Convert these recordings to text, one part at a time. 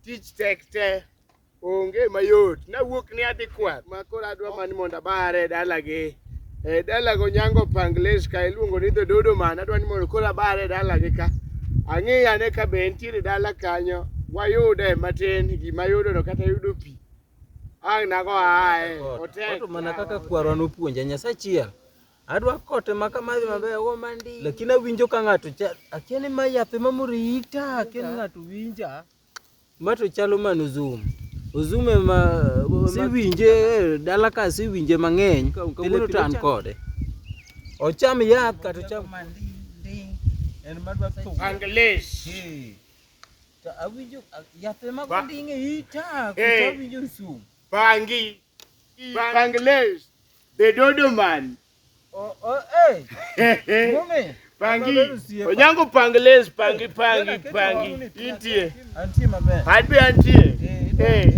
Tich tek te onge mayot nawuok ni adhi kwath ma koro adwa mani mondo abare e dalagi e dalago nyango pangles ka iluongo ni dhododo man adwa ni mondo koro abare e dalagi ka ang'iyane ka be entiere dala kanyo wayude matin gima yudono kata yudo pi Ang' nago ae, otek. Wato mana kaka kwarwa nopuonja Nyasaye chiel. Adwa kote ma kamadhi maber ogo mandi. Lakini awinjo ka ng'ato cha akia ni ma yath ema moro ita akia ni ng'ato winja. Ma to chalo mano zoom. Zoom ema siwinje eh, dala ka siwinje mang'eny. Kawuono to an kode. Ocham yath kata ocham mandi. En madwa thum. Anglesh. Hey. Awinjo yath ema gonding e ita koso awinjo nsum. Pangi. Pangles. The dodo man. Oh, oh, eh. Mume. Pangi. Onyango pangles, pangi, pangi, pangi. Intie. Antie maber. Adbe antie. Eh.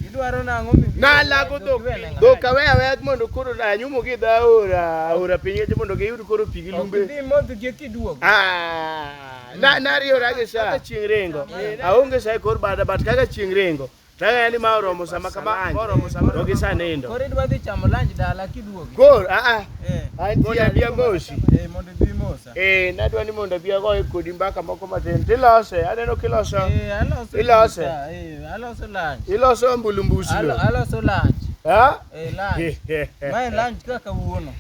Idwaro nang'o mi? Na lago dhok. Dhok awe awe mondo koro na nyumo gi dha ora, ora pinye mondo giyud koro pigi lumbe. Ok dhi modh gi kiduogo. Ah. Na nariyora gi sa. Kaka chieng' ringo. Aonge sa e kor bada but kaka chieng' ringo. Tang'eyo ni ma oromo sama kama anj. To gi sa nindo. Koro idwa dhi chamo lunch dala kiduogi. Kor a a. Eh. Antie abia mosi. Eh mondo ibi mosa. Eh nadwa ni mondo abia goye kodi mbaka moko matin. Tilose. Aneno kiloso. Eh aloso. Ilose. pizza, Eh aloso lunch. Iloso ambulu mbusi. Alo- Aloso lunch. Ha? Eh lunch. Mae lunch kaka wuono.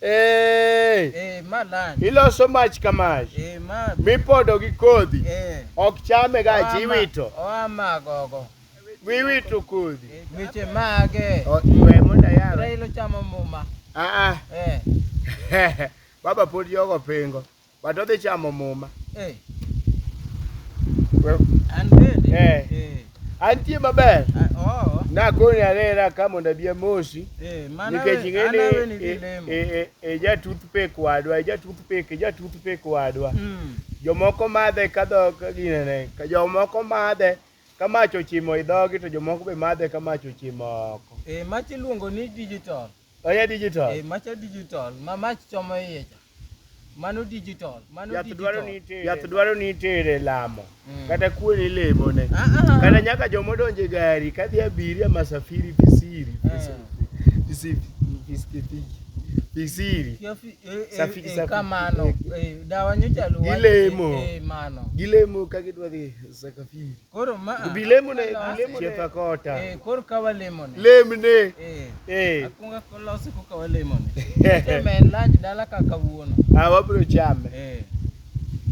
Hey. Hey, iloso mach ka mach hey, mipodo gi kodhi hey. ok chame ga ji iwito wiwito kodhi weche mage we mondo yaro railo chamo muma ah ah hey. baba pod yogo pingo But odhi chamo muma. Eh. Well, An bende. Eh. Eh. antie maber. Ah, Oh. Nakoni arera ka mondo abi amosi. Eh, mana Nikech we- ing'e ana we ni ni e- dilemo. e- e- e ja toothpick wadwa, e ja toothpick, e ja toothpick wadwa. Mm. Jomoko madhe ka dhok ka ginene, ka jomoko madhe ka mach ochimo i dhogi to jomoko be madhe ka mach ochimo oko. Eh, mach iluongo ni digital. Oya digital. Eh, macha digital. Ma mach chomo iye cha. Mano digital. Mano yath digital. Dwaro ni itere. Yath dwaro ni itere lamo. Mm. Kata kuwe ni lemo ne. Ah, ah, ah. Kata nyaka jomo donje gari. Kadhi abiria masafiri pisiri. Pisiri. Ah. Pisiri. Pisiri. Pisiri. Safiri. Eh, eh, kamano. Eh, dawa nyocha luwa. Gilemo. Eh, mano. Gilemo kagidwa dhi sakafiri. Koro ma bilemone chietha kota. Eh, koro ka walemone. Lemne. Eh. Eh. Akunga kolose koka walemone. Temen lunch dala ka kawuono. Ah, wabro chame. Eh.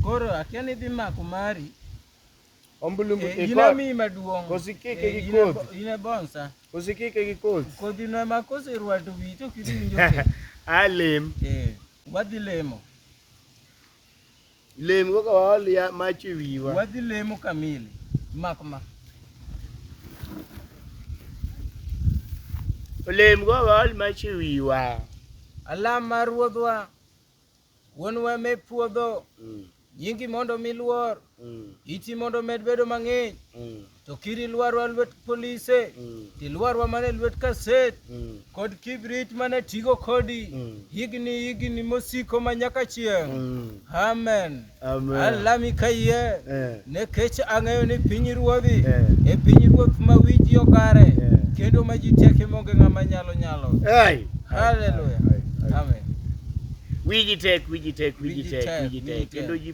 Koro akia ni dhi mako mari. Ombulumbu eh, ina mi maduong. Kosikike eh, gi kodhi. Ina bonsa. Kosikike gi kodhi. Kodhi no ma koserwato wito kidinjo. Alem. Eh. Wadhi lemo. Lem kaka waol ya mach e wiwa. Wadhi lemo kamili. Mak ma. Olem go waol mach e wiwa. Alam mar ruodhwa. Wuonwa me puodho. Mm. Nyingi mondo miluor. mm. iti mondo omed bedo mang'eny mm. to kiri lwarwa lwet polise mm. tilwarwa mana e lwet kaset mm. kod kibrit mana e tigo kodi mm. higni higni mosiko ma nyaka chieng' mm. amen, amen. alami kayie eh. nekech ang'eyo ni piny ruodhi eh. e piny ruoth ma wiji okare eh. kendo ma ji teke monge ng'ama nyalo nyalo hey. haleluya amen wiji tek wiji tek wiji tek wiji tek kendo ji